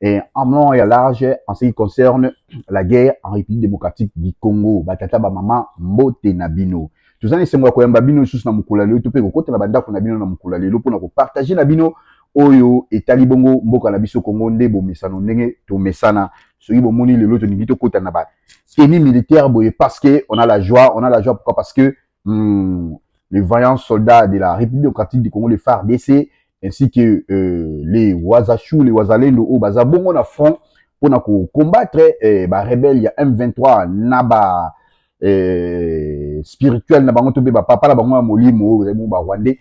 Et en long et à large, en ce qui concerne la guerre en République démocratique du Congo, batata ba mama mbote na bino. Toza na esengo ya koyamba bino lisusu na mokolo ya lelo to mpe kokota na bandako na bino na mokolo ya lelo mpo na kopartage na bino oyo etali bongo mboka na biso Congo nde bomesano ndenge tomesana soki bomoni lelo tolingi tokota na ba tenue militaire boye parce que on a la joie on a la joie pourquoi parce que Hum, les vaillants soldats de la République démocratique du Congo, les FARDC, ainsi que euh, les Wazachou, les Wazalendo, au Bazabongo na front, pour na combattre eh, ba rebelles, il y a M23, Naba, eh, spirituel, Nabango Tobe, ba papa, la bango molimo, ba rwandais,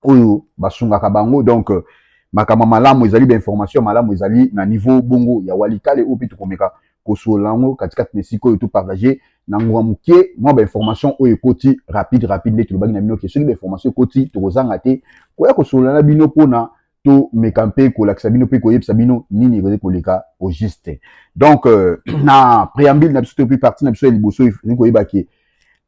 oyo basungaka bango donc euh, makambo malamu ezali ba information malamu ezali na niveau bongo ya walikale oyo mpe tokomeka kosolola yango katikati na esika oyo topartage na ngonga moke mwa ba information oyo ekoti rapide rapide nde tolobaki na bino ke soki ba information ekoti tokozanga te koya kosolola na bino mpona tomeka mpe kolakisa bino mpe koyebisa bino nini ekoki koleka au juste donc euh, na préambule na biso to mpe partie na biso ya liboso ezali koyeba ke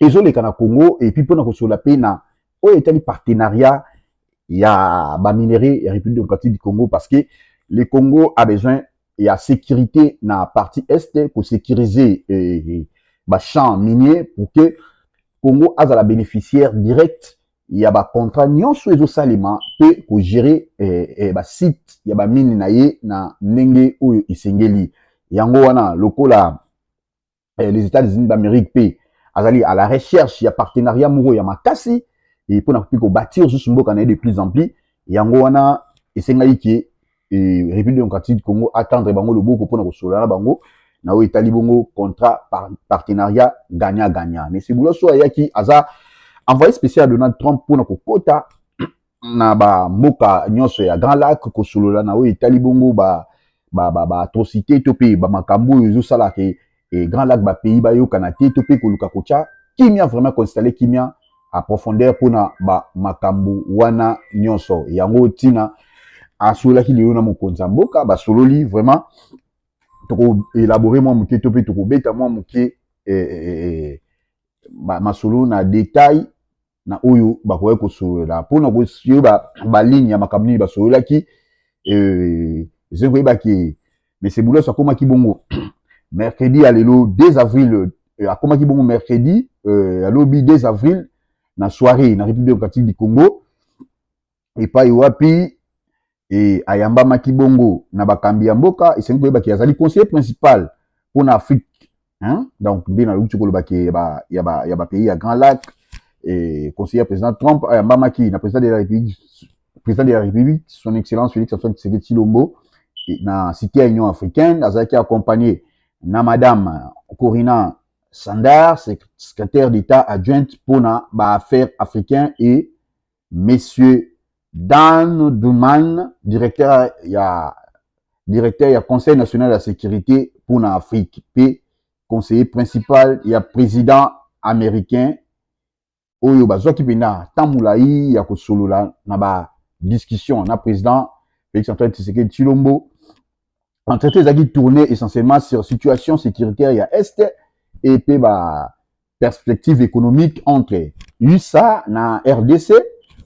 ezoleka na Congo et puis pona kosola pe na oyo etali partenariat ya ba minerais ya République démocratique du Congo parce que le Congo a besoin ya sécurité na partie est ko sécuriser eh, eh, ba champs miniers pour que Congo azala bénéficiaire direct ya ba contrat nyonso ezosalema mpe kogere eh, eh, basite ya bamine na ye na ndenge oyo esengeli yango wana lokola eh, les États-Unis d'Amérique pe azali à la recherche ya partenariat moko ya makasi et pona ko ko bâtir juste mboka na de plus en plus yango wana esengaki ke eh, République démocratique du Congo attendre bango loboko pona ko solola na bango na oyo etali bongo contrat par, partenariat gagnant gagnant mais Sibula so ayaki aza envoyé spécial Donald Trump pona kokota na ba mboka nionso ya Grand Lac kosolola na oyo etali bongo ba ba ba, ba atrocites to pe ba makambo oyo ezosala ke e Grand Lac ba pays bayokana te to pe koluka kotia kimia vraiment ko installer kimia a profondeur pona ba makambo wana nionso yango tina asololaki lelo na mokonzi ya mboka basololi vraiment toko elaborer mwa moke to pe tokobeta mwa moke eh, eh, eh, masolo na detail na oyo bakokaki kosolola mpo na koyeba baligne ya makambo nini basololaki euh, ezali koyeba ke mese boulos akomaki bongo mercredi ya lelo 2 avril euh, akomaki bongo mercredi euh, ya lobi 2 avril na soirée na république démocratique du congo epai wapi e, ayambamaki bongo na bakambi ya mboka. Esengeli koyeba ke azali conseiller principal mpo na Afrique hein? donc nde naluki koloba ke ya ba, ya ba, ya ba pays ya Grand Lac e, conseiller ya président Trump ayambamaki na président de la République président de la République son excellence Félix Antoine Tshisekedi Tshilombo e, na cité ya Union africaine azalaki accompagné na madame Corina Sandar, secrétaire d'État adjointe pour na ba affaires africaines et monsieur Dan Duman, directeur ya directeur ya Conseil national ya securite mpo na Afrique mpe conseiller principal ya president américain oyo bazwaki mpenza ntango molai ya kosolola na ba discussion na president Felix Antoine Tshisekedi Tshilombo entretien ezalaki tourne essentiellement sur situation sécuritaire ya est et mpe ba perspective économique entre usa na rdc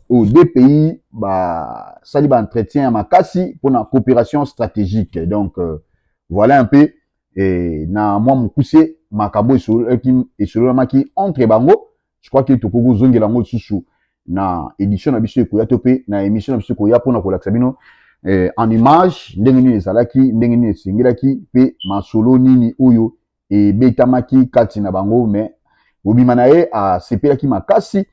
oyo deux pays basali baentretien ya makasi mpona coopération stratégique donc euh, voilà un peu eh, na mwa mokuse makambo esololamaki entre bango Je crois que tokoki kozongela yango lisusu na edition na biso ekoya to mpe na emission na biso ekoya mpo na kolakisa bino eh, en image ndenge nini ezalaki ndenge nini esengelaki mpe masolo nini oyo ebetamaki kati na bango mais mobima na ye asepelaki makasi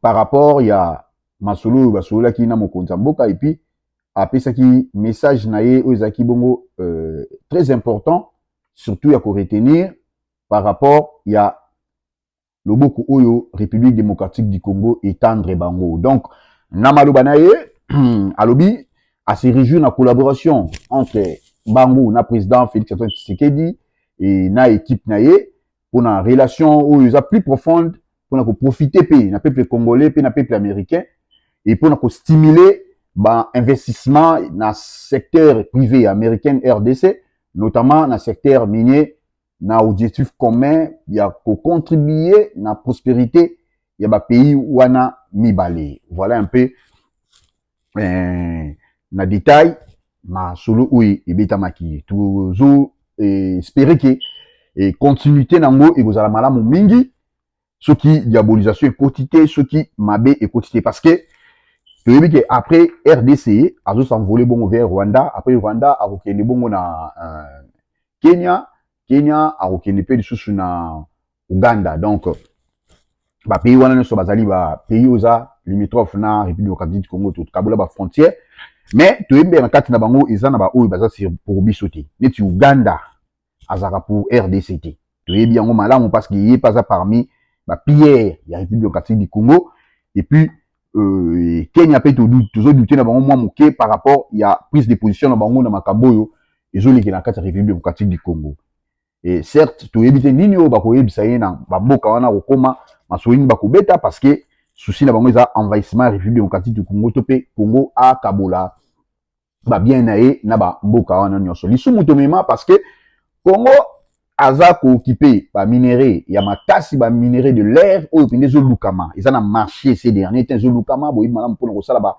par rapport ya masolo oyo basololaki na mokonzi ya mboka epuis apesaki message na ye oyo ezalaki bongo euh, très important surtout ya koretenir par rapport ya loboko oyo république démocratique du congo etendre bango donc na maloba na ye alobi ase réjouir na collaboration entre bango na président félix antoine tshisekedi e na équipe na ye pona relation oyo eza plus profonde pona ko profiter pe na peuple congolais pe na peuple américain et pona ko stimuler ba investissement na secteur privé américain RDC notamment na secteur minier na objectif commun ya ko contribuer na prosperite ya ba pays wana mibale voilà un peu eh, na detail masolo oyo ebetamaki tozo eh, espere ke eh, continuité na yango ekozala malamu mingi soki diabolisation ekoti te soki mabe ekoti te parce que toyebi ke après rdc azo s'envoler bongo vers rwanda après rwanda akokende bongo na euh, kenya kenya akokende mpe lisusu na Ouganda donc ba pays wana nyonso bazali ba pays oyo eza limitrophe na République démocratique du Congo tokabola ba frontières mais toyebi na kati na bango eza na baoyo baza sur pour biso te neti Ouganda azalaka pour RDC te toyebi yango malamu parce que ye mpe aza parmi ba pilleurs ya République démocratique du Congo et puis euh, Kenya mpe tozo douter na bango mwa moke par rapport ya prise de position na bango na makambo oyo ezolekela na kati ya République démocratique du Congo et certes toyebi te nini oyo bakoyebisa ye na bamboka wana kokoma masolo nini bakobeta parce que souci na bango eza envahissement ya république démocratique du congo to mpe congo akabola babien na ye na bamboka wana nyonso lisumu tomema parce que congo aza kookipe baminerai ya makasi baminerai de l'air oyo mpenza ezolukama eza na marché ces dernier temps ezolukama boyebi malamu mpona kosala ba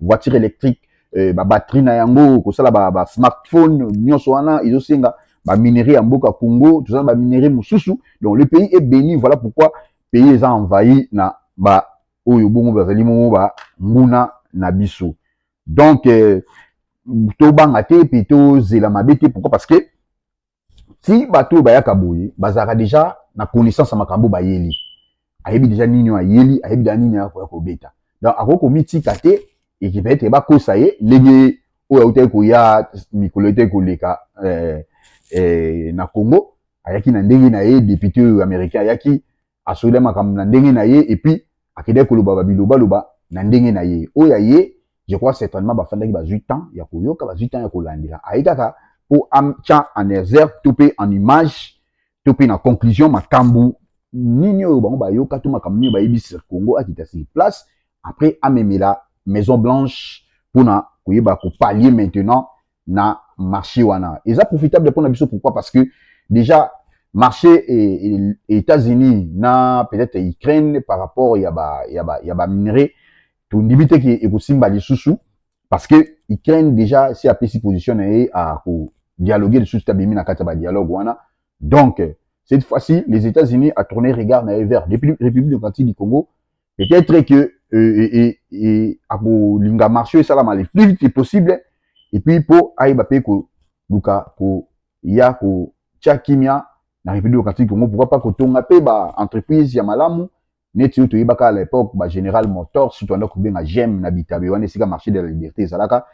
voiture électrique eh, ba batterie na yango kosala ba, ba smartphone nyonso wana ezosenga ba minerais ya mboka Congo toza na ba minerais mosusu donc le pays est béni voilà pourquoi pays eza envahi na ba oyo bongo bazali bongo ba nguna na biso donc eh, tobanga te mpe tozela mabe te pourquoi parce que ti bato oyo bayaka boye bazalaka deja na connaissance ya makambo bayeli ayebi deja nini oyo ayeli ayebi deja nini akoya kobeta donc akoki komitika te ekipetre bakosa ye ndenge oyo autaki koya mikolo etaki koleka eh, eh, na congo ayaki na ndenge na ye depute oyo américain ayaki asola makambo na ndenge na ye et puis akendaki koloba ba biloba loba na ndenge na ye oyo ya ye je crois certainement bafandaki bazwi temps ya koyoka bazwi temps ya kolandela aye kaka mpo atya en exergue to mpe en image to mpe na conclusion makambo nini oyo bango bayoka to makambo nini bayebisi congo akita sur place après amemela maison blanche mpona koyeba kopalie maintenant na marché wana eza profitable mpona biso pourquoi parce que déjà marché états-unis na peut-être ukraine par rapport ya ba, ya ba, ya ba minerais tondimi te ke ekosimba lisusu parce que ukraine déjà si apesi position na ye akodialogue lisusu te abimi na kati ya badialogue wana donc cette fois-ci les états-unis atourne regard na ye vers république démocratique du congo peut-être que euh, et, et, et, akolinga marché esalama le plus vite possible et puis mpo ayeba mpe koluka koya kotya kimia na république démocratique congo pourquoi pas kotonga mpe ba entreprise ya malamu neti oyo toyebaka à l'époque ba général motors surtout anda kobenga gem na bitabe wana esika marché de la liberté ezalaka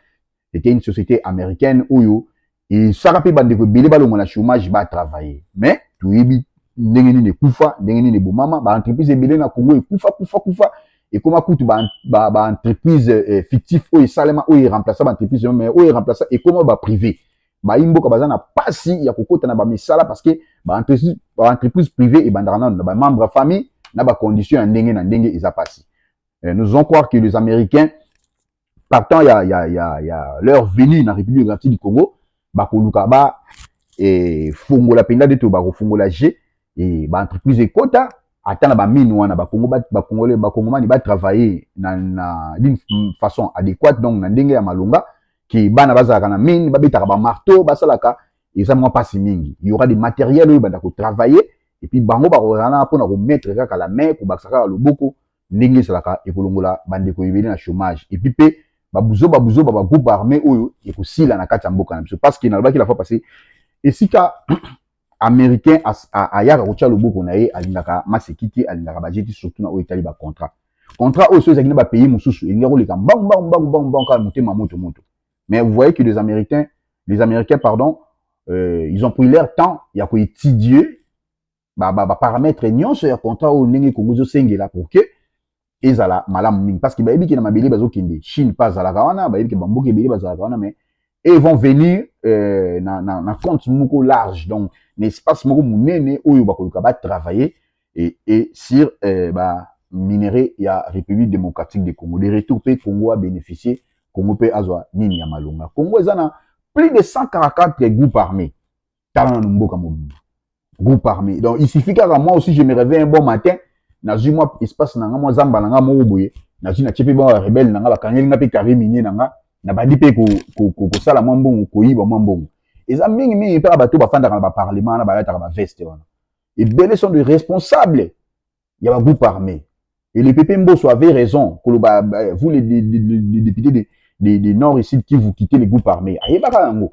c'était une société américaine oyo esaka mpe bandeko ebele balongwa na chômage ba travailler mais toyebi ndenge nini ekufa ndenge nini ebomama ba entreprise ebele na Congo ekufa kufa kufa ekoma kutu ba, ba, ba entreprise eh, fictif oyo esalema oyo eremplaça ba entreprise mais oyo eremplaça ekoma ba privé bayi mboka baza na pasi ya kokota na bamisala parce que ba entreprise, ba entreprise privé ebandaka nano na ba membre ya famille na ba condition ya ndenge na ndenge eza pasi eh, nous allons croire que les américains partant ya, ya, ya, ya leur venue na République démocratique du Congo bakoluka ba eh, fongola mpenza nde to bakofongola je eh, baentreprise ekota ata na bamine wana bakongomani batravaille na, na d'une façon adéquate donc na ndenge ya malonga ke bana bazalaka na mine babetaka bamarteau basalaka eza mwa mpasi mingi y aura des matériels oyo banda kotravaille epuis bango bakozala mpona komettre kaka la main kobakisa kaka loboko ndenge esalaka ekolongola bandeko ebele na chomage epuis mpe babuzoba buzoba ba groupe arme oyo ekosila na kati ya mboka na biso parceke nalobaki la fois passe esika américain ayaka kotia loboko na ye alingaka masekiti alingaka bajeti surtout na oyo etali bacontrat contrat oyo so ezalaki na bapays mosusu elingi koleka mbangu mbangu mbangu mbangu mbangu kaka motema moto moto mais vous voyez que les américains les américains pardon euh, ils ont pris leur temps ya koétudier ba ba, ba parametre nyonso ya contrat oyo ndenge Congo ezosengela pour que ezala malamu mingi parce que bayebi ke na mabele bazokende Chine mpe azalaka wana bayebi ke bamboka ebele bazalaka wana mais et vont venir euh, na, na, na compte moko large donc na espace moko monene oyo bakoluka batravailler et, et sur euh, ba minerais ya république démocratique de congo de retour mpe congo abénéficie congo mpe azwa nini ya malonga congo eza na plus de 144 groupes armés tala nanu mboka mobimba groupe armé donc il suffit kaka moi aussi je me réveille un bon matin nazwi mwa espace na nga mwa zamba na nga moko boye nazwi natie mpe mwa barebele na nga bakangeli nga mpe carré minier na nga nabandi mpe kosala mwa mbongo koyiba mwa mbongo eza mingi mingi mpe bato bafandaka na baparlement wana balataka baveste wana ebele sont de responsable ya ba groupe armé et le PP Mboso avait raison koloba euh, vous les, les, les, les députés de, de, de Nord et Sud qui vous quittez les groupes armés ayebaka yango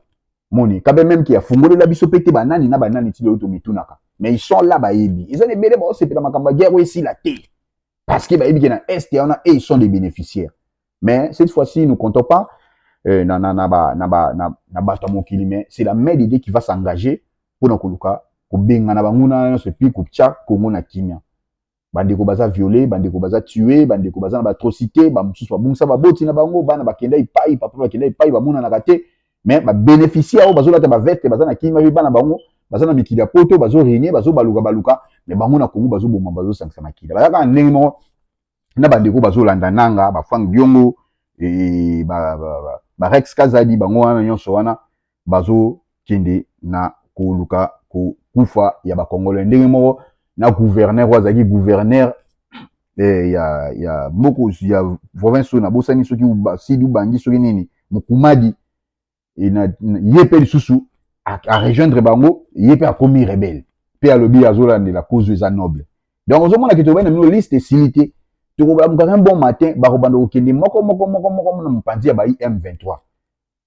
moni kabe même ki afungolela biso pe te banani na banani ti lelo tomitunaka mais ils sont là bayebi eza na ebele baosepela makambo ya guerre oyo esila te parce que bayebi ke na est wana et ils sont des bénéficiaires Mais cette fois-ci, nous comptons pas euh, na, na, na, ba, na, ba, na, na bato ya mokili, mais c'est la mère de Dieu qui va s'engager mpo na koluka kobengana banguna nyonso epuis kotya Congo na kimia. Bandeko baza viole, bandeko baza tue, bandeko baza na baatrocité, bamosusu babungisa baboti na bango, bana bakenda epai, papa bakenda epai, bamonanaka te, mais babénéficie yango, bazolata baveste, baza na kimia mpe bana bango baza na mikili ya poto, bazoregne, bazobaluka baluka, mais bango na Congo bazoboma, bazosangisa makila. Baza kaka ndenge moko na bandeko bazolanda nanga ba frank diongo e, ba, ba, ba, ba rex kazadi bango wana nyonso wana bazokende na koluka kokufa ya bakongolais ndenge moko na gouverneur oyo azalaki gouverneur eh, ya, ya moko ya province oyo nabosani soki sidi ubangi soki nini mokumadi et na, na ye mpe lisusu arejoindre bango ye mpe akomi rebele mpe alobi azolandela kozu eza noble donc ozomona ke tolobai na bino liste esili te tokolamuka un bon matin bakobanda kokende moko moko moko moko na mopanzi ya bai m23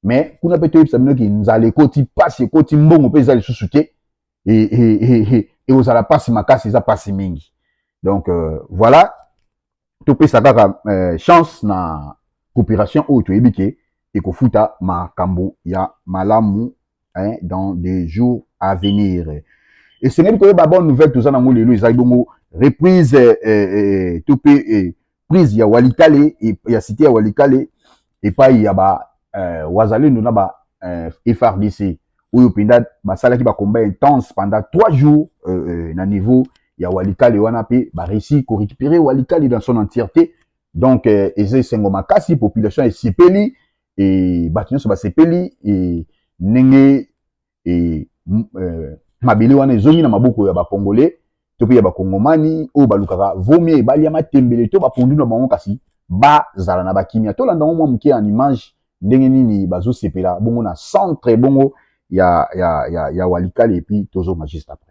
mais kuna mpe toyebisa bino ke nzala ekoti mpasi ekoti mbongo mpe eza lisusu te ekozala e, e, e, mpasi makasi eza mpasi mingi donc euh, voilà topesa kaka eh, chance na coopération oyo toyebi ke ekofuta makambo ya malamu hein, dans des jours à venir esengeli koyeba bonne nouvelle toza nango lelo ezali bongo reprise eh, eh, eh to mpe eh, prise ya walikale eh, ya site ya walikale epai ya ba eh, wazalendo na ba eh, frdc oyo mpenza basalaki ba combat intense pendant trois jours euh, euh, na niveau ya walikale wana mpe bareussi korecupere walikale dans son entièreté donc euh, eza esengo makasi population esepeli e bato nyonso basepeli e ndenge e, euh, mabele wana ezongi na maboko ya bacongolais to mpe ya bakongomani oyo balukaka vomie balia matembele to bapondu na bango kasi bazala na bakimia tolanda yango mwa moke en image ndenge nini bazosepela bongo na centre bongo ya, ya, ya, ya walikale epuis tozonga juste après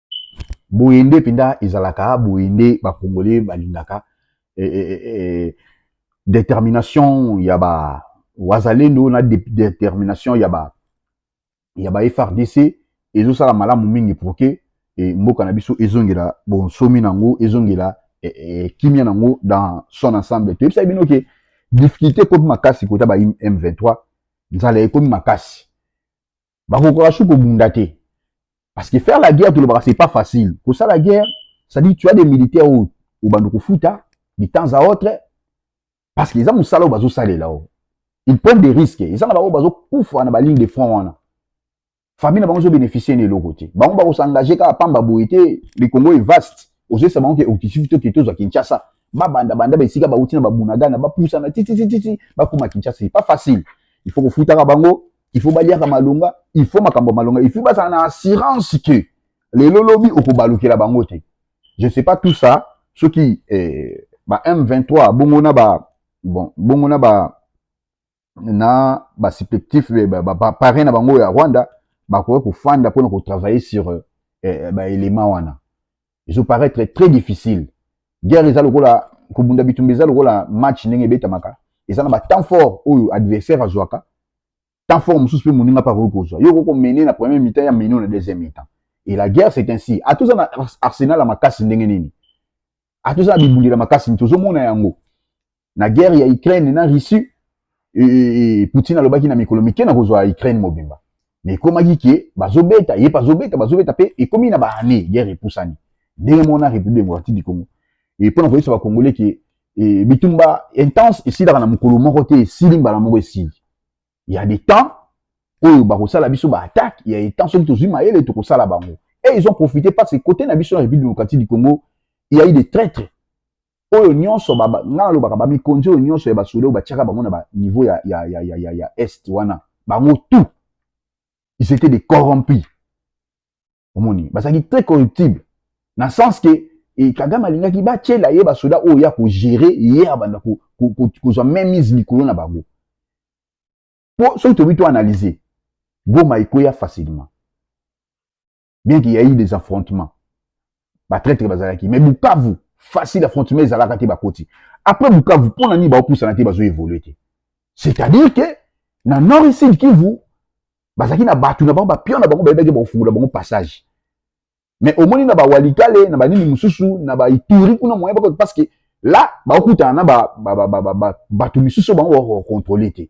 boye nde mpenza ezalaka boye nde bakongole balingaka e, e, e, determination ya ba wazalendo na de, determination ya ba ya ba frdc ezosala malamu mingi pour que e, mboka na biso ezongela bonsomi na yango ezongela e, e, kimia na yango dans son ensemble toyebisaki bino ke difficulté ekomi makasi kota ba m23 nzala ekomi makasi bakokaka su kobunda te parce que faire la guerre tolobaka c'est pas facile kosala guerre c'est-à-dire tu as des militaires oyo obanda kofuta de temps à autre parce que eza mosala oyo bazosalela oyo ils prennent des risques eza na bango bazokufa na baligne de front wana famille na bango ezobénéficie na eloko te bango bakosengage kaka pamba boye te le congo est vaste ozoyesa bango ke okisifi to kete ozwa kinshasa babanda banda baesika bauti na babunagana bapusana tititititi bakoma kinshasa c'est pas facile il faut kofutaka bango il faut baliaka malonga il faut makambo ya malonga il faut bazala na assurance que lelo lobi okobalukela bango te je sais pas tout ça soki eh, ba m23 bongo na ba bon bongo na ba na ba supplétif eh, ba, ba, ba parrain na bango ya rwanda bakoki kofanda mpona kotravaille sur eh, eh, baélément wana ezo paraître très difficile guerre eza lokola kobunda bitumba eza lokola match ndenge ebetamaka eza na batemp fort oyo adversaire azwaka temps fort mosusu mpe moninga mpe akoki kozwa yo okoki komene na premier mitan ya meno na deuxième mitan et la guerre c'est ainsi ata oza na arsenal ya makasi ndenge nini ata oza na bibundela makasi nini tozomona yango na guerre ya Ukraine na Russie et Poutine alobaki na mikolo mike na kozwa Ukraine mobimba mais ekomaki ke bazobeta ye bazobeta bazobeta pe ekomi na ba année guerre epusani ndenge mona République démocratique du Congo et pona koyebisa ba Congolais ke et bitumba intense esilaka na mokolo moko te esili mbala moko esili ya des temps oyo bakosala biso ba attaque ya etant soki tozwi mayele tokosala bango et ils ont profité parce que côté na biso na république démocratique du congo il y a eu des traîtres oyo nyonso nga nalobaka bamikonzi oyo nyonso ya basoda oyo batiaka bango na baniveau ya, ya, ya, ya, ya, ya est wana bango tout ils étaient des corrompus omoni bazalaki très corruptible na sens ke e, kagame alingaki batyela ye basoda oyo ya kogere ye abanda kozwa ko, ko, ko, ko mainmise likolo na bango mpo soki tobi to analyse goma ekweya facilement bien qu'il y a eu des affrontements batraitre bazalaki mais bukavu facile affrontement ezalaka te bakoti après bukavu mpo na nini baopusana te bazo évolue te c'est-à-dire que na nord et sud kivu bazalaki na bato na bango bapion na bango bayebaki bakofungola bango passage mais omoni na bawalikale na banini mosusu na baituri kuna moyen bakoti parce que là baokutana na bato misusu bango bakokontrole te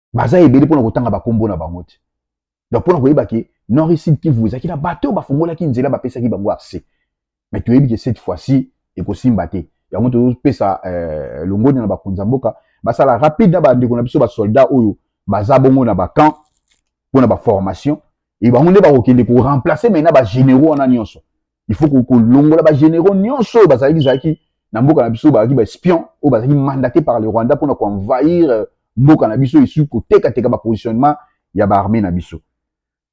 baza ebele mpona kotanga bakombo na bango te donc mpona koyeba ke nord sud kivu ezalaki na bato oyo bafungolaki nzela bapesaki bango accès mais toyebi ke cette fois ci ekosimba te yango tozopesa euh, longoni na bakonzi ya mboka basala rapide na bandeko na biso basoldat oyo baza bongo na bacamp mpona baformation e bango nde bakokende koremplace mai na bagénéraux wana nyonso il faut kolongola ba généraux nyonso oyo bazalaki zalaki na mboka na biso bazalaki ba espion oyo bazalaki mandaté par le Rwanda mpona koenvahir euh, mboka na biso esuki kotekateka ba positionnement ya ba armée na biso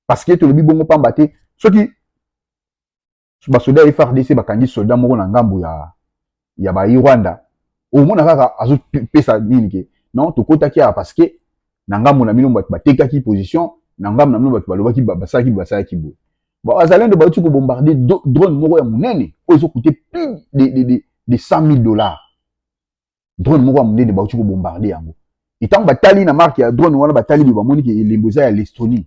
parce que tolobi bongo pamba te soki basoda ya FRDC bakangi soldat moko na ngambo ya ya ba Rwanda omona kaka azo pesa nini ke non tokotaki awa parce que na ngambo na bino bato batekaki position na ngambo na bino bato balobaki basalaki basalaki boye bazalendo bauti kobombarde drone moko ya monene oyo ezokute plus de, de, de, de 100 000 dollars drone moko ya monene bauti kobombarde yango etango batali na marke ya drone wana batali boye bamoni ke elembo eza ya lestonie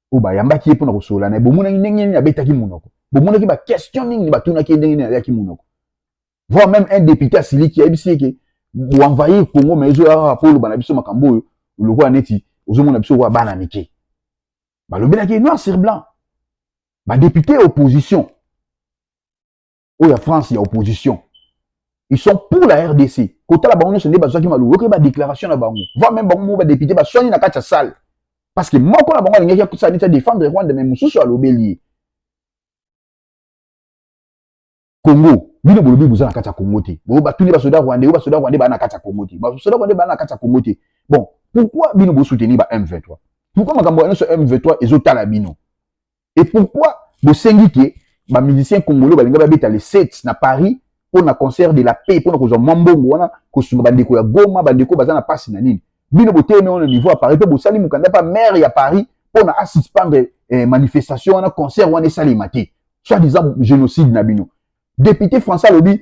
oyo bayambaki ye mpo na kosolola na ye bomonaki ndenge nini abetaki monoko bomonaki baquestion nini batunaki ye ndenge nini aliaki monoko voir même un député asiliki ayebisi ye ke boenvahir congo ma ezoya kaka mpo oloba na biso makambo oyo lokola neti ozomona biso lokola bana mike balobelaki ye noir sur blanc badepute ya opposition oyo ya France ya opposition ils sont pour la rdc kotala bango nyonso nde bazwaki maloba oyoki badéclaration na bango voi meme bango moko badepute baswani na kati ya salle parce que moko na bango alingaki akosala neti adefendre rwanda mai mosusu alobeli ye congo bino bolobi boza na kati ya congo te bo batuni basoda rwandais oyo basoda rwandais baa na kati ya congo te basoda rwandais baa na kati ya congo te bon pourquoi bino bosoutenir ba m23 pourquoi makambo ya nyonso m23 ezotala bino et pourquoi bosengi ke ba musiciens congolais balinga babeta le 7 na paris mpo na concert de la paix mpo na kozwa mwa mbongo wana kosunga bandeko ya goma bandeko baza na mpasi na nini bino botelemi wana niveau ya paris mpe bosali mokanda mpe maire ya paris mpo na asuspendre eh, manifestation wana concert wana esalema te soit disant génocide na bino député français alobi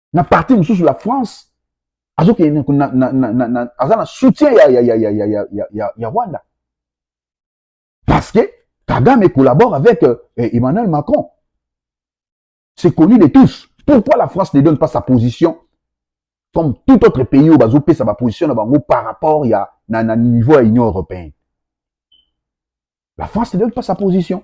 na parti mosusu la france azokende aza na soutien ya, ya, ya, ya, ya, ya, ya, ya, ya rwanda parce que kagame collabore avec euh, emmanuel macron c'est connu de tous pourquoi la france ne donne pas sa position comme tout autre pays oyo bazopesa baposition na bango par rapport ya na, na niveau ya union européenne la france ne donne pas sa position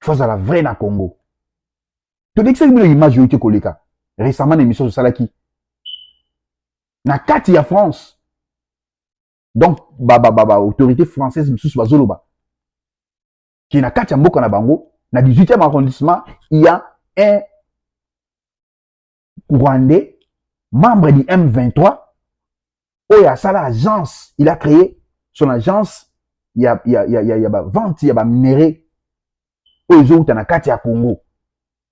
faut la vrai na congo tolekisaki bino image oyo te koleka récemment na émission tosalaki na kati ya france donc baautorité française mosusu bazoloba ke na kati ya mboka na bango na 18e arrondissement ya un rwandais membre du M23 oyo asala agence il a créé son agence ya, ya, ya, ya, ya bavente ya baminerai oyo ezowuta na kati ya congo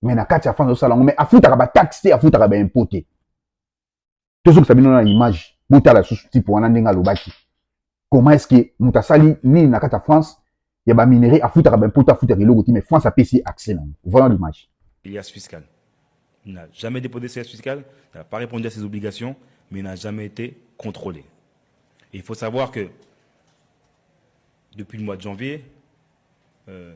me na kati ya france osala yango me afutaka bataxe te afutaka baimpôt te tozokisa bino na image botala lisusu tipe wana ndenge alobaki comment est-ce que moto asali nini na kati ya france ya baminerai afutaka baimpo te afutaka eloko te mais france apesi ye accès nango voilà l'image ilias fiscal n'a jamais déposé ses fiscales n'a pas répondu à ses obligations mais n'a jamais été contrôlé et il faut savoir que depuis le mois de janvier euh,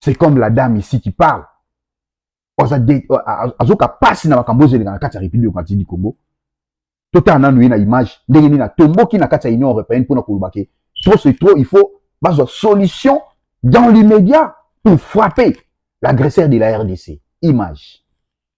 c'est comme la dame ici qui parle azoka pasi na makambo ozo eleka na kati ya république démocratique du congo totala nanu ye na image ndenge nini atomboki na kati ya union européenne mpona koloba ke trop c'est trop il faut bazwa solution dans l'immédiat pour frapper l'agresseur de la rdc image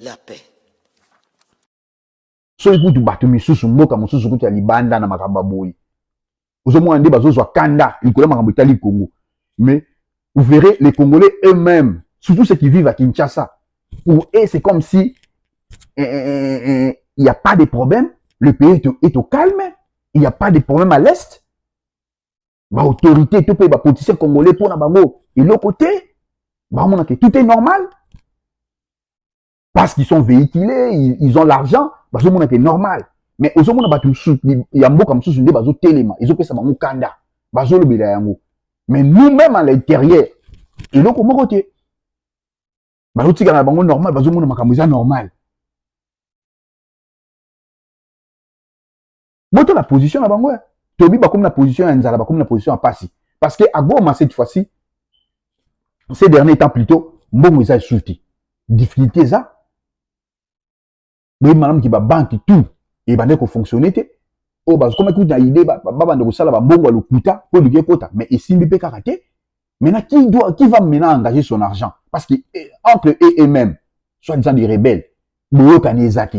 la paix. soki kutu bato misusu mboka mosusu kutu ya libanda na makambo ya boye ozomona nde bazozwa kanda likolo ya makambo etali congo mais vous verrez les congolais eux-mêmes surtout ceux qui vivent à kinshasa pour eux c'est comme si eh, eh, eh, eh, eh il n'y a pas de problème le pays est au, est au calme il n'y a pas de problème à l'est ba autorité to mpe ba politicien congolais mpo na bango eloko te bamona ke tout est normal parce qu'ils sont véhiculés ils, ils ont l'argent bazomona ke normal mais ozomona bato mosusu ya mboka mosusu nde bazotelema ezopesa bango kanda bazolobela yango mais nous même à l'intérieur eloko moko te bazotikala na bango normal bazomona makambo eza normal botala position na bango ya toyebi bakomi na position ya nzala bakomi na position ya mpasi parce que à Goma cette fois-ci ces derniers temps plutôt mbongo eza lisusu te difficulté eza boyebi malamu ke babanke tout ebandaki kofonctionne te oyo bakomaki kutu na idée babanda kosala bambongo ya lokuta mpo elingi ekota mais esimbi mpe kaka te maintenant qui, doit, qui va maintenant engager son argent parce que eh, entre eux et même soit disant des rebelles boyokani eza te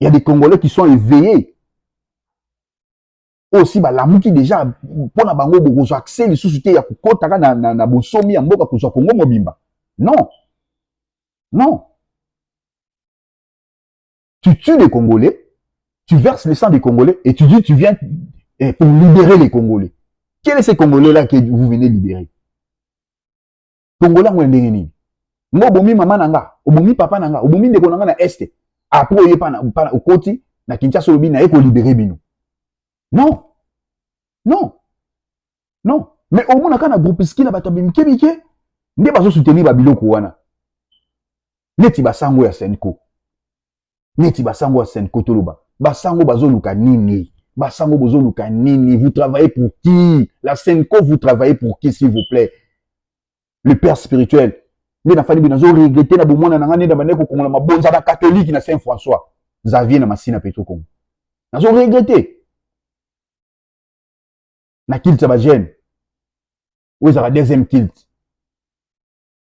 Il y a des Congolais qui sont éveillés. oyo si balamuki deja mpo na bango bokozwa accès lisusu te ya kokotaka na, na, na bonsomi ya mboka kozwa kongo mobimba non non tu tues les congolais tu verses le sang des congolais et tu dis tu viens eh, pour libérer les congolais quel est ce congolais là que vous venez libérer tongola yango ya ndenge nini nga obomi mama na nga obomi papa na nga obomi ndeko na nga na este apres oye pana okoti na kinshasa olobi naye kolibere bino non non non mais omonaka na groupiski na bato ya bimike mike nde bazosoutenir babiloko wana neti basango ya senco neti basango ya sen kotoloba basango bazoluka nini basango bozoluka nini vous travaillez pour qui la senco vous travaillez pour qui s'il vous plaît le père spirituel nde nafandi boye nazo regrete na bomwana na ngai nde na bandaki kokongola mabonza na katolike na saint françois xavier na masina petro congo nazo regrete na kilte ya bagene oyo ezalaka deuxième kilte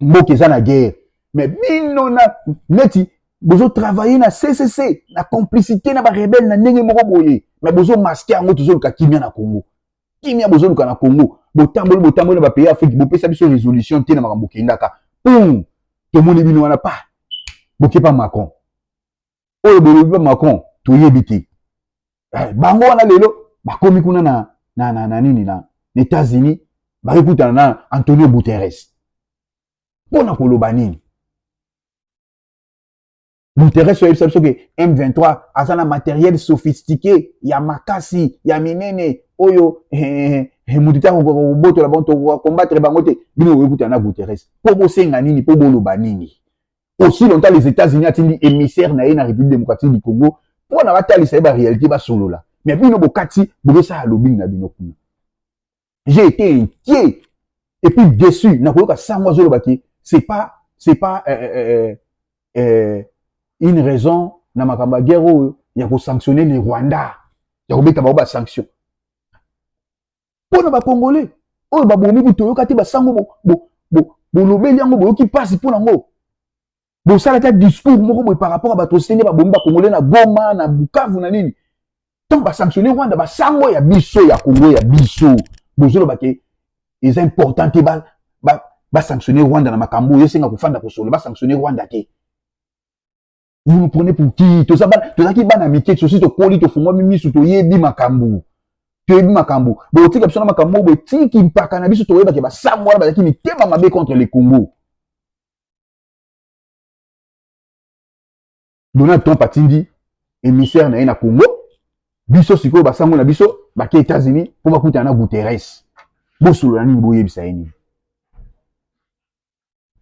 mboka eza na guerre mais bino na neti bozo travailler na ccc na complicité na barebele na ndenge moko boye mais bozo maske yango tozoluka kimia na congo kimia bozoluka na congo botamboli botamboli na bapays afrique bopesa biso résolution te na makambo kendaka pum tomoni bino wana pa bokepa macron oyo bolobi ba macron toyebi te eh, bango wana lelo bakomi kuna na, na, na, na nini na, na états-unis bakokutana na antonio guterres mpo na koloba nini guterres oyebisa biso ke m23 aza na materiel sophistiqué ya makasi ya minene oyo eh, eh, eh, eh moto te akokoka kobotola bango tokoka kombatre bango te bino bokoki kutana na guterres mpo bosenga nini mpo boloba nini aussi longtemps les États-Unis atindi émissaire na ye na République démocratique du Congo mpo na batalisa ye ba réalité basolola mais bino bokati bokosala lobing na bino kuna j'ai été inquiet et puis déçu na koyoka sango azoloba ke c'est pas c'est pas euh, euh, euh, euh, une raison na makambo ya guerre oyo ya kosanctionne le Rwanda ya kobeta bango basanction mpo na bakongole oyo babomi kutu oyoka te basango bolobeli yango boyoki mpasi mpo na yango bosalaki ya discours moko boye par rapport ya bato sende babomi bakongole na goma na bukavu na nini ntango basanctionne rwanda basango ya biso ya kongo ya biso bozoloba ke eza important te basanctionne rwanda na makambo oyo esenga kofanda kosolo basanctionne rwanda te vous nous prenez pour qui toza bana tozalaki bana mike sosi tokoli tofungwami misu toyebi makambo toyebi makambo botika biso na makambo oyo botiki mpaka na biso toyebake basango wana bazalaki mitema mabe contre le congo donald trump atindi émissaire na ye na congo biso sikoyo basango na biso bake états-unis mpo bakutana na guterres bosolola nini boyebisa ye nini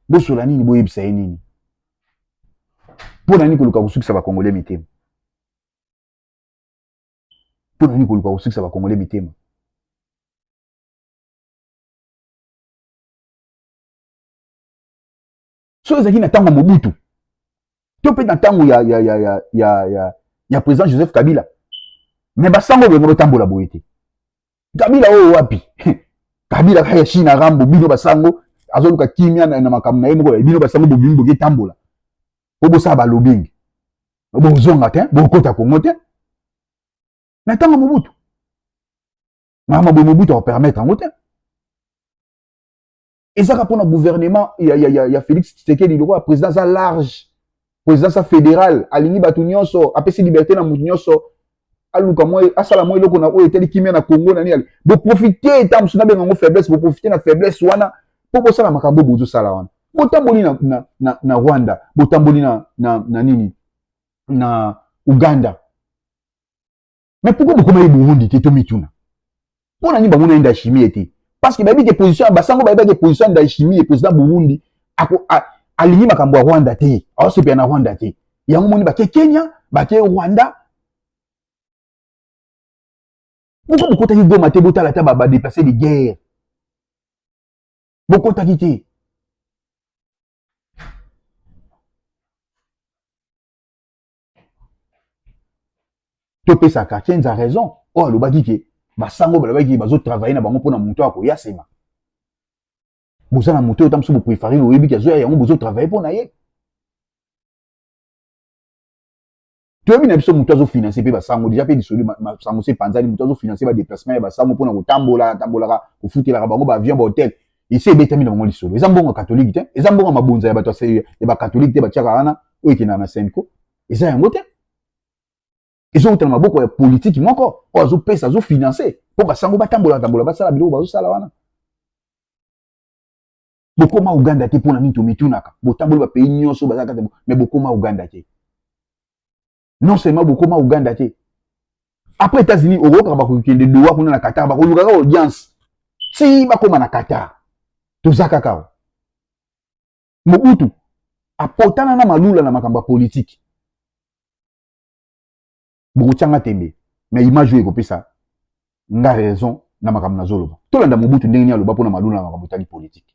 bosola nini boyebisa ye nini mpo na nini koluka kosukisa bakongole mitema mpo na nini koluka kosukisa bakongole mitema soki ezalaki na ntango mobutu to mpe na ntango ya, ya, ya, ya, ya, ya, ya président joseph kabila me basango oyo bengo botambola boye te kabila oyo wapi kabila kaka ya china rambo bino basango azoluka kimia na, na makambo na ye moko bino basango bobimi boke tambola po bosala balobingi bozonga te bokota kongo te na ntango mobutu mama boye mobutu akopermettre yango te ezaka mpona gouvernement ya, ya, ya, ya félix tshisekedi lokola président aza large président aza fédéral alingi bato nyonso apesi liberté na moto nyonso aluka mwa asala mwa eloko na oyo etali kimia na congo na nini boprofite ntango mosusu nabenga yango faiblesse boprofite na faiblesse wana mpo bosala makambo oyo bozosala wana botamboli na, na, na, na rwanda botamboli na, na, na nini na uganda mais pourquoi bokoma ye burundi te tomituna mpo na nini bamona ye ndashimie te parce que bayebi ke position ya basango bayebi ke position ya ndashimie président burundi alingi makambo ya rwanda te aosepela na rwanda te yango moni bake kenya bake rwanda pourquoi bokotaki goma te botala ata badeplace de guerre bokotaki te topesa cartiens a raison oyo alobaki ke basango balobaki ke bazotravaille na bango mpona moto ya koya nsima boza na moto oyo ta mosusu boprefare boyebi ke azoya yango bozotravaille mpo na ye toyebi na biso moto azofinanse mpe basango deja mpe lisoli masango se epanzani moto azofinanse badeplacement ya basango mpona kotambola atambolaka kofutelaka bango baavion bahotel esi ebetami na bango lisolo eza mbongo ya katolike te eza mbongo ya mabonza ya bato ya bakatolike te batiaka wana oyo ekendaka na senco eza yango te ezowuta na maboko ya politiki moko oyo azopesa azofinanse mpo basango batambola tambola basala biloko bazosala wana bokoma uganda te mpo na nini tomitunaka botamboli bapays nyonso baza kati me bokoma uganda te non seulement bokoma uganda te après états-unis okokaka bakokende dowa kuna na qatar bakoluka kaka audience ti bakóma na qatar toza kaka o mobutu apotana na malula na makambo ya politike bokotyanga tembe na image oyo ekopesa nga raison na makambo nazoloba tolanda mobutu ndenge nini aloba mpo na malula na makambo etali politike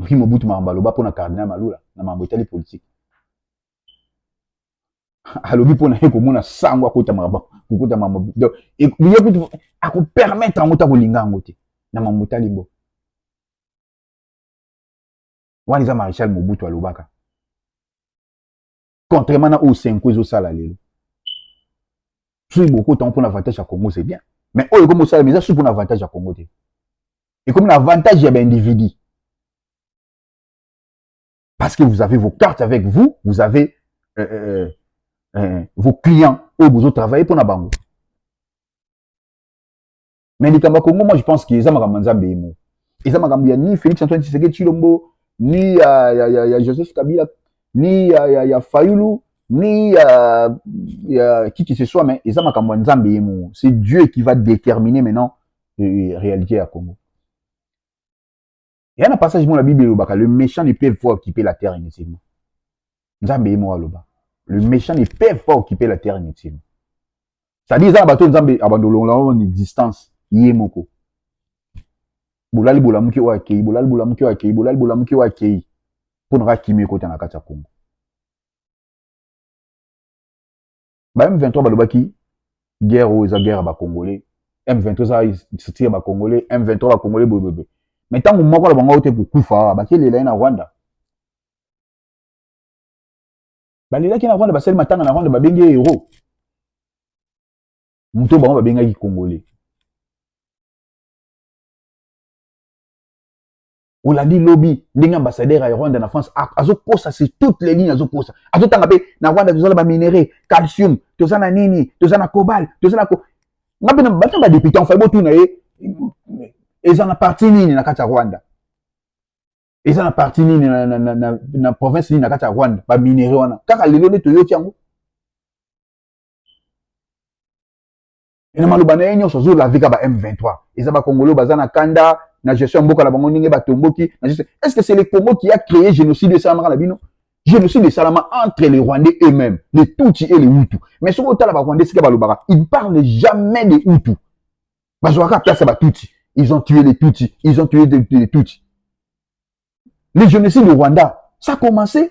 Oyebi Mobutu makambo aloba mpo na Cardinal Malula na makambo etali politiki? alobi mpo na ye komona sango akota makambo kokota makambo donc ye kutu akopermettre yango te akolinga yango te na makambo etali mboka wana eza maréchal mobutu alobaka contrairement na oyo senko ezosala lelo soki bokota yango mpona avantage ya congo c'est bien mais oyo ekomi osalama eza soki mpona avantage ya congo te ekomi na avantage ya baindividu parce que vous avez vos cartes avec vous vous avez euh, euh, euh, euh vos clients oyo bozotravaille mpona bango mais likambo ya congo moi je pense que eza makambo ya nzambe ye moko eza makambo ya ni félix antoine tshisekedi tshilombo ni ya, ya, ya, ya joseph kabila ni ya, ya, ya fayulu ni ya, ya qui que ce soit mais eza makambo ya nzambe ye moko c'est dieu qui va déterminer maintenant euh, réalité ya congo Il y a un passage dans la Bible, le méchant ne peut pas occuper la terre inutilement. Nzambe est mort là-bas. Le méchant ne peut pas occuper la terre inutilement. Ça dit, ça, bateau Nzambe abandonne là une distance. Yé moko. Bolali bolamuki wa kei, bolali bolamuki wa kei, bolali bolamuki wa kei. Pour nous rakimi kota na kata Congo. ba M23 balobaki guerre oyo eza guerre ya ba congolais M23 eza structure ya ba congolais M23 ba congolais boye boye mais ntango moko na bango te kokufa awa bakelela ye na Rwanda balelaki na Rwanda basali matanga na Rwanda babengi ye hero moto bango babengaki congolais olandi lobi ndenge ambassadeur ya rwanda na france azokosa sur toutes les lignes azokosa azotanga mpe na rwanda toza na baminerai calcium toza na nini toza na cobal toza na nga mpe bata badepute enfin botuna ye eza na parti nini na kati ya rwanda eza na parti nini na, na, na, na, na province nini na kati ya rwanda baminerai wana kaka lelo nde toyoki yango na maloba na ye nyonso azo laver ka ba M23 eza ba congolais baza na kanda na gestion ya mboka na bango ndenge batomboki na gestion est ce que c'est le Congo qui a créé génocide esalamaka na bino génocide esalama entre les Rwandais eux-mêmes les Tutsi et les Hutu mais soki otala ba Rwandais sika balobaka ils parlent jamais des Hutu bazwaka place ya ba Tutsi ils ont tué les Tutsi ils ont tué les Tutsi le génocide au Rwanda ça a commencé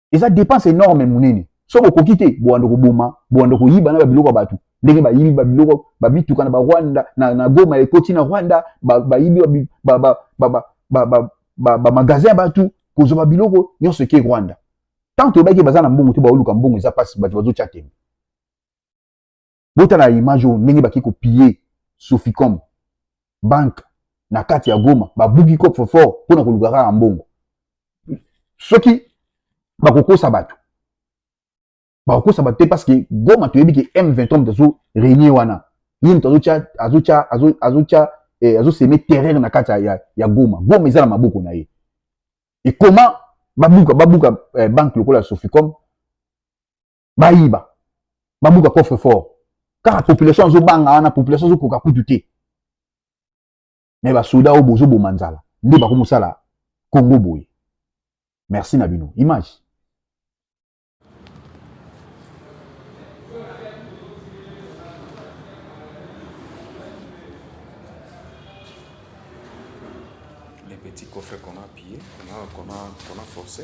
eza dépense énorme munene soki okoki te bowanda koboma bowanda koyiba na babiloko ya bato ndenge bayibi babiloko bamituka na barwanda na, na goma ekoti na rwanda bayibi bamagasin ya bato kozwa babiloko nyonso eke rwanda tant toyebaki baza na mbongo te baoluka mbongo eza mpasi bato bazotya tembe botala image oyo ndenge baki kopille soficom banque na kati ya goma babuki coffre fort mpo na koluka kaka mbongo soki bakokosa bato bakokosa bato te parce que goma toyebi ke m23 moto azo renie wana ye moto azotya azotya azotya eh, azoseme terreur na kati ya, ya goma goma eza na maboko na ye ekoma babuka babuka eh, banque lokola ya soficom bayiba babuka coffre fort kaka population azobanga wana population azokoka kutu te me basoda oyo bozoboma nzala nde bakomosala congo boye merci na bino image les petits coffres qu'on a pillé qu'on a, qu'on a, qu'on a forcé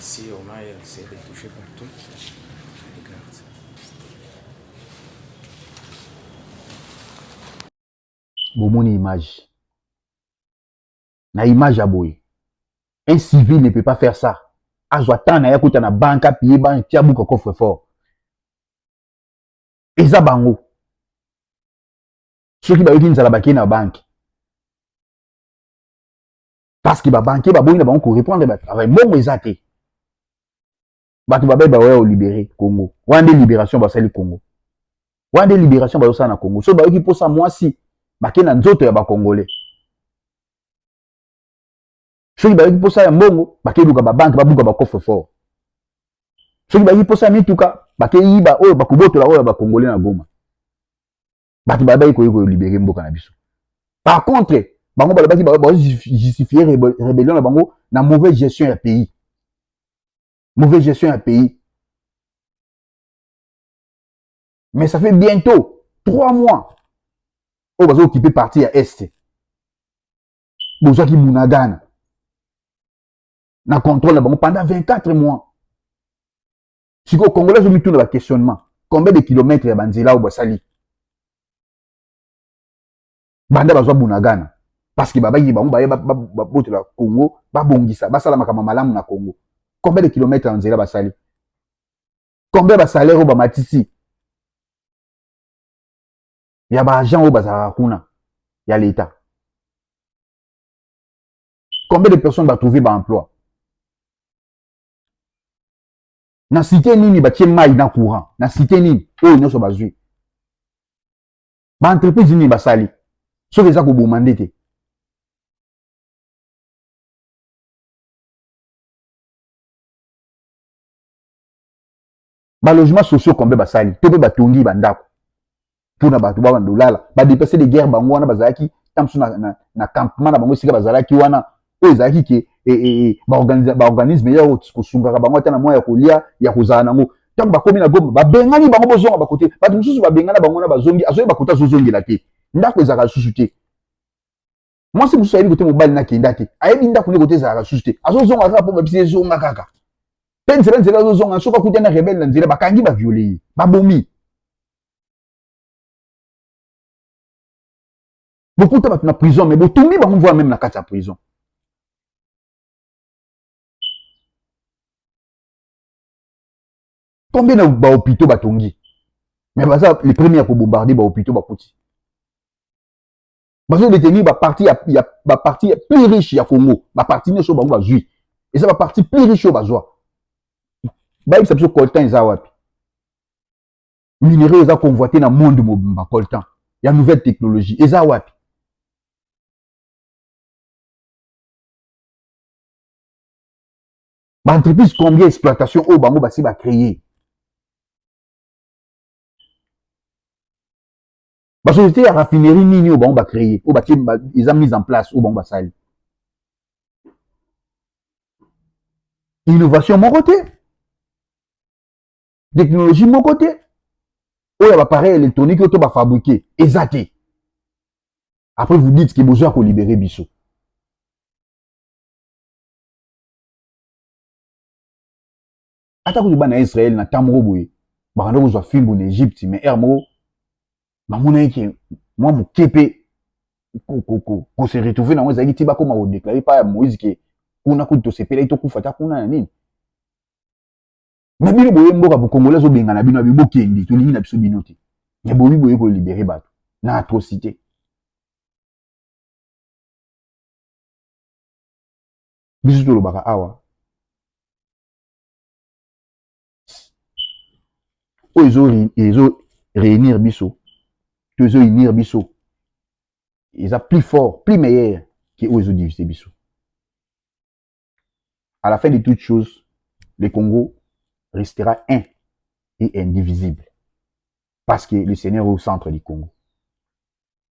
ici, on a essayé de toucher partout. Regarde. bomoni image na image ya boye un civil ne peut pas faire ça azwa temps na ye akuta na banque apiye banque tia buka coffre fort eza bango soki bayoki nzala bakei na banke parce que babanke baboyi na bango korepondre batravail mbongo eza te bato babai baoya olibere congo wana nde liberation basali congo wana nde liberation bazosala na congo so bayoki mposa mwasi bake na nzoto ya bakongole soki bayaki mposa ya mbongo bakeluka babanke babuka bakofre fort soki bayaki mposa ya mituka bakeyiba oyo bakobotola oyo ya bakongole na goma bato bayebaki koyei kolibere mboka na biso par contre bango balobaki bazojustifie rébellion na bango na mauvaise gestion ya pays mauvaise gestion ya pays mais ça fait bientôt trois mois oyo bazokipe parti ya est bozwaki bunagana na contrôle na bango pendant 24 mois sikoyo congolais azomituna baquestionnement combien de kilomètre ya banzela oyo basali banda bazwa bunagana parce que babangi bango baye babotela congo babongisa basala makambo malamu na congo combien de kilomètre ya nzela basali combien basalaire oyo bamatisi ya ba agent oyo bazalaka kuna ya leta combien de personnes batrouve baemploi na site nini batie mai na courant na site nini oyo nyonso bazwi baentreprise nini basali soki eza koboma nde te ba logements sociaux combien basali to mpe batongi bandako mpo na bato ba bandolala badeplace de guerre bango wana bazalaki ntango mosusu na, na, na campement na bango esika bazalaki wana oyo ezalaki ke e, e, e, baorganisme ya kosungaka bango ata na mwa ya kolia ya kozala na yango ntango bakomi na goma babengani bango bozonga bakote bato mosusu babengana bango wana bazongi azoyeba kote azozongela te ndako ezalaka lisusu te mwasi mosusu ayebi kote mobali nakenda te ayebi ndako nde kote ezalaka lisusu te azozonga kaka mpo babisi ezonga kaka mpe nzela nzela azozonga soki akuta na rebele na nzela bakangi baviole ye babomi bokuta bato na prison me botumbi bango mvua meme na kati ya prison combien na bahopitaux batongi me baza le premier ya kobombarde bahopitaux bakuti bazo détenir ba parti ya, ya ba parti plus riche ya Congo ba parti nioso bango bazui eza ba parti plus riche oyo bazwa bayebisa biso coltan eza wapi minerais eza convoité na monde mobimba coltan ya nouvelle technologie eza wapi baentreprise combien exploitation oyo bango basi bacreye ba société ya raffinerie nini oyo bango ba créer oyo batie eza mise en place oyo bango basali innovation moko te technologie moko te oyo ya bapareil électronique oyo to bafabrike eza te après vous dites ke bozo ya kolibere biso ata kutu bana ya israele na ntango moko boye bakanda kozwa fimbu na egypte mais ere moko bamonaki ke mwa moke mpe kose retrouve nango ezalaki ti bakoma kodeklare epai ya moïse ke kuna kutu tosepelaki tokufa ata kuna na nini me bino boye mboka bokongole azobengana bino abi bokende tolingi na biso bino te me bobi boye kolibere bato na atrocité biso tolobaka awa oyo ezo, ezo réunir biso to ezo unir biso eza plus fort plus meilleur ke oyo ezo diviser biso à la fin de toute chose le Congo restera un et indivisible parce que le Seigneur est au centre du Congo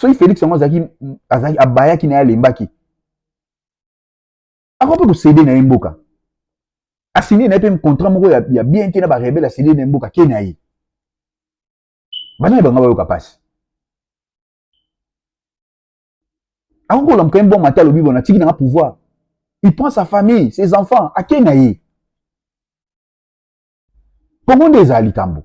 soki felix yango azalaki azalaki abayaki na ye alembaki akoki mpe kosede na ye mboka asinie na ye mpe contrat moko ya, ya bien te na barebele asinie na ye mboka ke na ye banani banga bayoka mpasi akoki kolamuka ye mbwa mata alobi bona atiki nanga pouvoir il prend sa famille ses enfants ake na ye kongo nde ezala likambo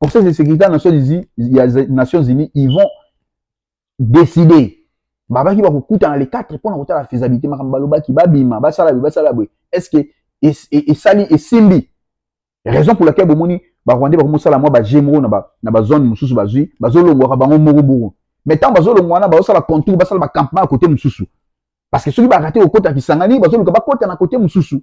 Conseil de sécurité ya Nations Unies, ya Nations Unies ils vont décider babaki bakokutana le 4 mpo na kotala faisabilité makambo balobaki babima basala boye basala boye est ce que esali esimbi raison pour laquelle bomoni barwandais bakomi kosala mwa baje moko na bazone mosusu bazwi bazolongwaka bango moko moko mais ntango bazolongwa wana bazosala contour basala bacampement ya kote mosusu parce que soki barate kokota kisangani bazoluka bakota na kote mosusu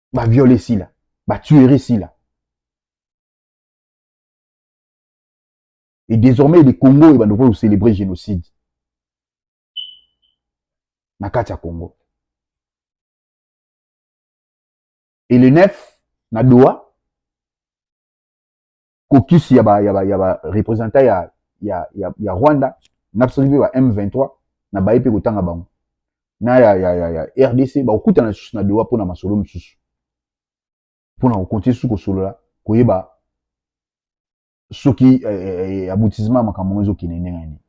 ba viole esila ba tuerie esila et désormais le congo oyo bando ko célébrer génocide na kati ya congo et le 9 na doha kokisi ya ba ya ba ya ba representant ya ya ya, ya Rwanda na biso ba M23 na baye pe kotanga bango na ya ya ya, ya RDC bakokutana lisusu na Doha pona masolo mosusu pona kokontinue susu kosolola koyeba soki eh, eh, eh aboutissement ya makambo yango ezokende ndenge nini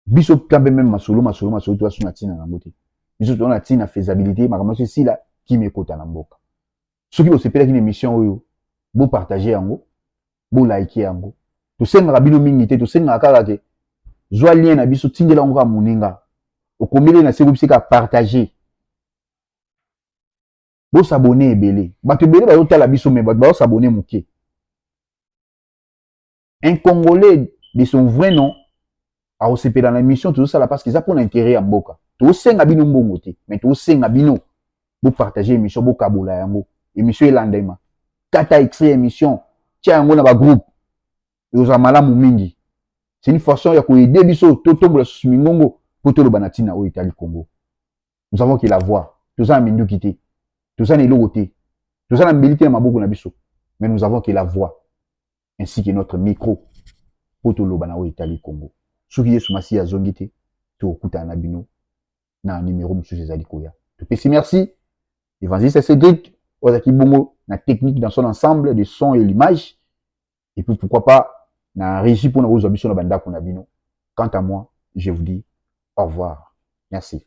biso quand même masolo masolo masolo to asuna tina na mbote biso tona tina faisabilité makambo se sila kimi ekota na mboka soki bosepelaki na émission oyo bo partager yango bo like yango tosengaka bino mingi te tosengaka kaka ke zwa lien na biso tindela yango kaka moninga okomeli na se kobiseka partager bosabone ebele bato ebele bazotala biso me bato bazosabone moke un congolais de son vrai nom akosepela na émission tozosala parce que eza mpo na intérêt ya mboka tosenga bino mbongo te mais tosenga bino bopartage émission bokabola yango émission elandema kata extrait ya émission tya yango na bagroupe ekozala malamu mingi c'est une façon ya koyede biso totombola susu mingongo mpo toloba na ntina oyo etali congo nous avons que la voix toza na minduki te toza na eloko te toza na mbeli te na maboko na biso mais nous avons que la voix ainsi que notre micro mpo toloba na oyo etali Congo. Soki Yesu Masiya azongi te, tokokutana na bino na numero mosusu ezali koya. Topesi merci Evangeliste Cedric oyo azalaki bongo na technique dans son ensemble de son et l'image et puis pourquoi pas na régie mpo na kozwa biso na bandako na bino. Quant à moi, je vous dis au revoir. Merci.